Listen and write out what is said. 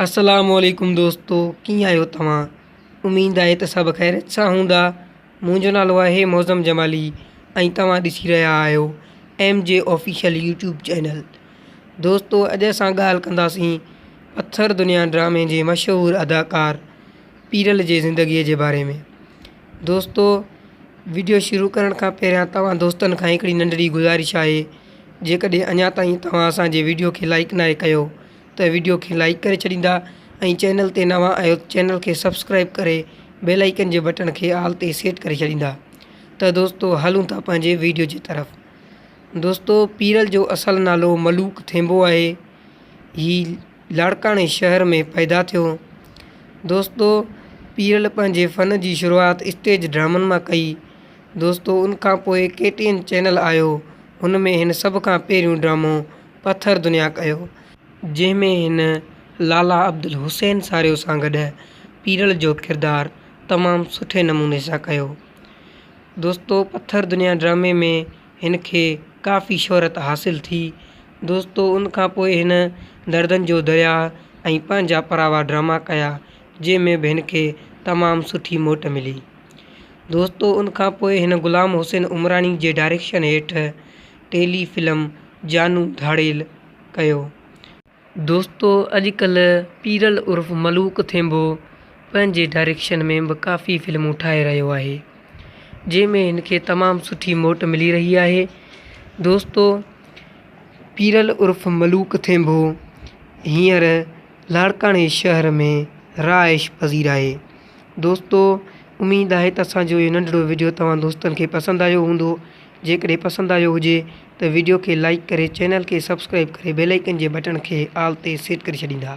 السلام عليڪم دوستو ڪيئن آهيو توهان اميد آهي ته سڀ خيريت سان هوندا منهنجو نالو آهي معظم جمالي ۽ توهان ڏسي رهيا آهيو M G official YouTube channel دوستو اڄ اسان ڳالهه ڪنداسين پٿر دنيا ڊرامي جي مشهور اداڪار پيرل جي زندگيء جي باري ۾ دوستو ويڊيو شروع ڪرڻ کان پهريان توهان دوستن کان هڪڙي ننڍڙي گذارش آهي جيڪڏهن اڃا تائين توهان اسان جي ويڊيو کي لائڪ ناهي ڪيو ته ويڊيو کي لائيڪ ڪري ڇڏيندا ۽ چينل تي نوان آهيو ته چينل کي سبسڪرائيب ڪري بيل آئيڪن جي بٽڻ کي آل تي سيٽ ڪري ڇڏيندا ته دوستو هلون ٿا پنهنجي ويڊيو جي طرف دوستو پيرل جو اصل نالو ملوڪ ٿينبو آهي هي لاڙڪاڻي شهر ۾ پيدا ٿيو دوستو پيرل پنهنجي فن جي شروعات اسٽيج ڊرامن مان ڪئي دوستو ان کان پوء ڪي ٽي اين چينل آيو هن ۾ هن سڀ کان پهريون ڊرامو پٿر دنيا ڪيو، جنهن ۾ هن لالا عبدالحسين ساريو سان گڏ پيرل جو ڪردار تمام سٺي نموني سان ڪيو. دوستو پٿر دنيا ڊرامي ۾ هن کي ڪافي شهرت حاصل ٿي. دوستو ان کان پوء هن دردن جو درياء ۽ پنهنجا پراوا ڊراما ڪيا، جنهن ۾ به هن کي تمام سٺي موٽ ملي. دوستو ان کان پوء هن غلام حسين عمراڻي جي ڊائريڪشن هيٺ ٽيلي فلم جانو ڌاڙيل ڪيو. دوستو اڄ ڪلهه پيرل عرف ملوڪ ٿينڀو پنهنجي ڊائريڪشن ۾ به ڪافي فلمون ٺاهي رهيو آهي جنهن ۾ هن کي تمام سٺي موٽ ملي رهي آهي دوستو پيرل عرف ملوڪ ٿينڀو هينئر لاڙڪاڻي شهر ۾ رهائش پذير آهي دوستو اميد آهي ته اسانجو اهو ننڍڙو وڊيو توهان دوستن کي پسند آيو هوندو. جيڪڏهن پسند آيو هجي ته ويڊيو کي لائيڪ ڪري چينل کي سبسڪرائيب ڪري بيل آئيڪن جي بٽڻ کي آل تي سيٽ ڪري ڇڏيندا.